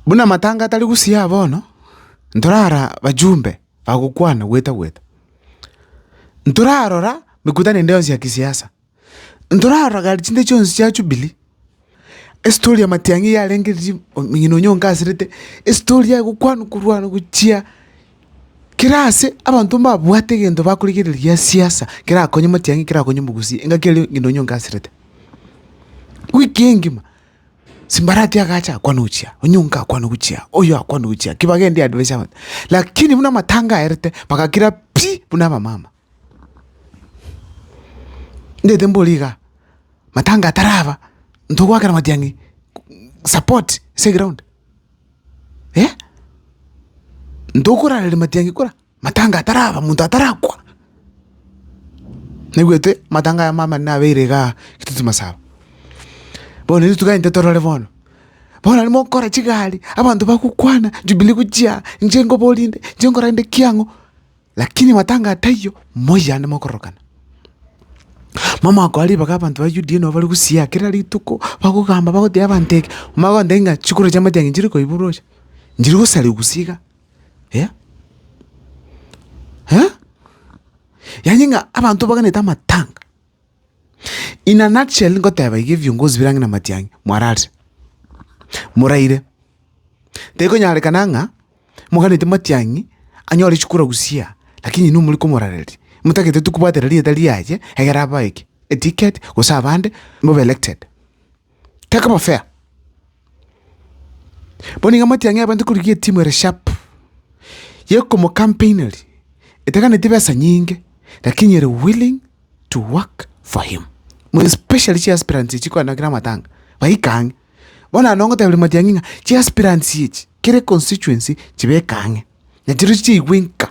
Buna amatanga atari gosia bono, ntorara bajumbe bagokwana gweta-gweta. Ntorarora mekutano ende yonsi ya kisiasa. Ntorarora gari chinde chionsi chia Jubilee. Estori ya matiang'i iga yarenge riria omong'ina onya onkaserete, estori yaye gokwanwa korwanwa gochia kera ase abanto mbabwate egento bakorigereria gia siasa kerakonye matiang'i, kerakonye mogusi, engaki eria ng'ina onya onkaserete. Wiki engima. Simbarati agacha akwana ochia, onyonka akwana ochia, oyo akwana ochia, kibagendi advice abanto. Lakini buna amatanga aerete bagakira pi buna abamama. Ndete mbore iga, matanga ataraba ntogwakera matiang'i support ase eground. Eh! Ntokorareri matiang'i kora. matanga ataraba, monto atarakwa. Naigwete matanga aya maamate nabeire igaa rituti masaba. Bono intwe togende torore bono, bono aria mokora chigari, abanto bagokwana, jubilee gochia, inche nkobori inde, inche nkore inde ki ang'o, lakini matanga ataiyo, moiyane mokorokana. Momokoa ribaga abanto ba UDA nabo bare gosiaa kera rituko, bagogamba bagoteba abanto eke, omanye gotenga chikoro chiamate ang'e nchire koiborwa ocha, nchire gosariwa gose iga. eh eh yaani ng'a abanto baganete amatanga. In a nutshell ngoteba iga ebiongozi bire ang'e na matiang'i mwararire, moraire, tekonyarekana ng'a moganete matiang'i anyore chikura gusii lakini inwe more komorareria, motagete tu kobwatera rieta riaye egere abae ki? Eticket gose abande mobe elected. Kekaba fair. Bono iga amatia ng'a ebente korigia etimu ere sharp, yekomocampaineria, etaganeti besa nyinge, lakini ere willing to work for him, more especially chiaspirants echi kwanyora kera amatanga, baika ang'e. Bono naende ngoteberia Matiang'i ng'a chiaspirants echi, kere constituency, chibeke ang'e. na chirochi chiaigwe nka,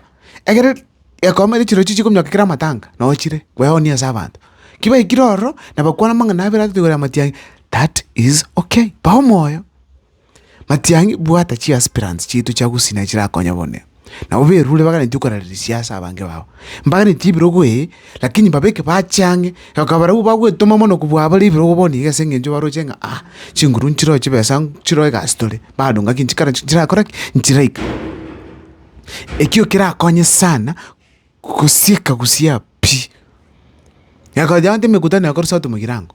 egere gekomo erio chirochi chikonyweka kera amatanga nochire kweoonia ase abanto. Ki baikire ororo na bakwana amang'ana abere atotigwe korera matiang'i, that is okay, ba omoyo. Matiang'i bwata chiaspirants chiaito chia gusii naye chirakonye bono iga, nabo berure baganetie okorareria siasa abange babo, mbaganetie ebirogo eeh. Lakini babeke bachie ang'e, na bakaba barabwo bagwetoma mono kobua abare ebirogo bono iga ase engencho baroche ng'a aa chinguru nchiroe chibesa nchiroe egasi tore, bado ngaki nchikare nchirakore ki? Nchiraika. Ekio kerakonye sana gosieka gosiaa pi. Yakaocha abande emekutano yakorwa saa tano mogirango.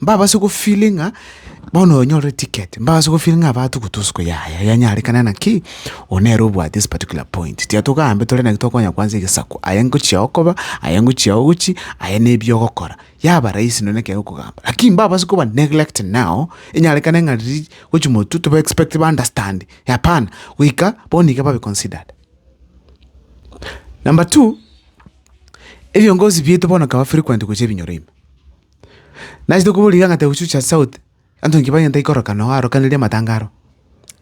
mbabase gofili ng'a bono onyorire ticket mbabase gofili ng'a abato gotosuko yaya yanyarekana naki oyo nere obwate this particular point tiga togambe tore naki tokonya kwansa egesaku aye ngochia okoba aye ngochia ogochi aye nebi ogokora yaba rahisi nonye ekero okogamba lakini mbabase koba neglect now enyarekane ng'a riria gochi motwe toba expect ba understand hapana goika bono iga babe considered. Number two, ebiongozi bieto bono bikaba frequent gochia ebinyoro ime. Nachete koboria ring'ana taiyo gochucha ase sauti, anto inki bagenta ikorokana oo arokaneria amatanga aro.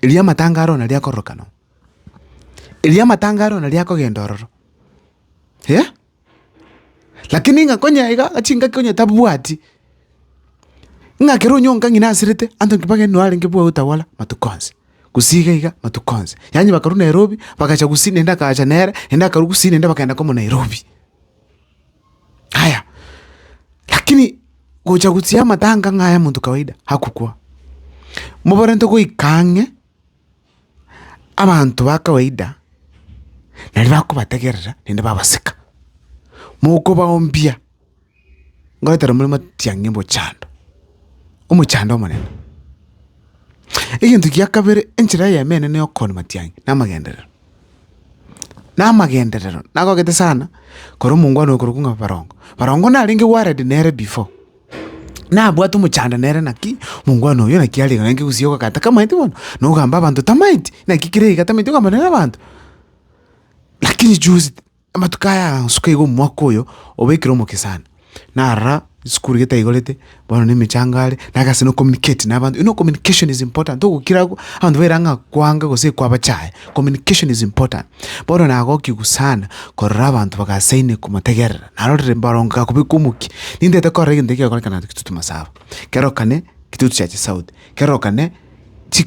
Erio amatanga aro nario akororokana oo. Erio amatanga aro nario akogenda ororo, eh. Lakini ng'a konye iga chingaki onye tabwati, ng'a ekero onyonka ng'ina asirete, anto inki bagenda nere arenge bwa utawala matuko onsi, gusii iga iga matuko onsi. Yaani bakarwa Nairobi, bagacha gusii naende akacha nere, naende akarwa gusii naende bakagenda komo Nairobi. Yaya, lakini gocha gochia amatanga ng'a aya monto kawaida, hakukwa. Mobarente goika ang'e abanto ba kawaida naende bakobategerera naende babaseka, mokobaombia ngoetera more matiang'i omochando, omochando omonene. Egento gia kabere enchera eyemo enene ya okooni matiang'i na amagenderero. namagenderero nagogete sana korwa omongwana oyo korokwa ng'a barongo. Barongo narenge worried nere before, nabwate omochando nere naki omongwana oyo naki are iga naende gose igo ogaka tamaeti bono, na ogamba abanto tamaeti, naki kere iga tamaeti ogamba nere abanto. Lakini juzi. Amatuko aya agansuka iga omwaka oyo obeekire omokesani, narora esukuru getaikorete, bono nemechando are, naye ase nokominiketi na abanto, you know communication is important, togokira abwo abanto baire ang'e akwanga gose ekwabacha aye, communication is important. Bono nagokigwa sana korora abanto bagasaine komotegerera, narorire mbaro ngakobeka omokia, nintete korora egento ekegokorekana naende getotoma saba, kerokane getotchache sauti, kerokane chi.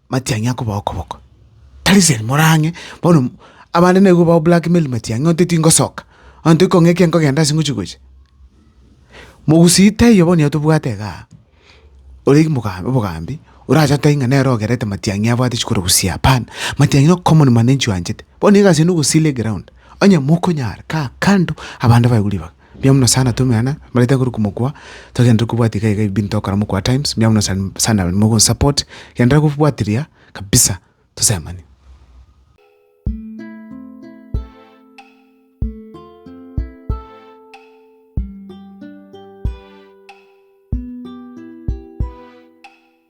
Matiang'i akoba okoboko. Tariseri more ang'e! Bono abande naigwe bao blackmail Matiang'i onte tingosoka, onte kong'a eke nkogenda ase ngochia gocha. Mogusii taiyo bono nigo tobwate iga aa. Ore mogambi obogambi, orache otebi ng'a nere ogerete Matiang'i abwate chikorusia hapana. Matiang'i no common mwananchi oanchete. Bono egasi eye nogosii le ground. Onye mokonyara, kaa kando, abande baigwe ribaga. Mbuya muno sana tomeana mbare tagokora komokwa togenderere kobwati iga iga ebinto tokora mokwa at times mbuya muno sana abanyene mogonsupport genderera kobwatiria kabisa tosemani.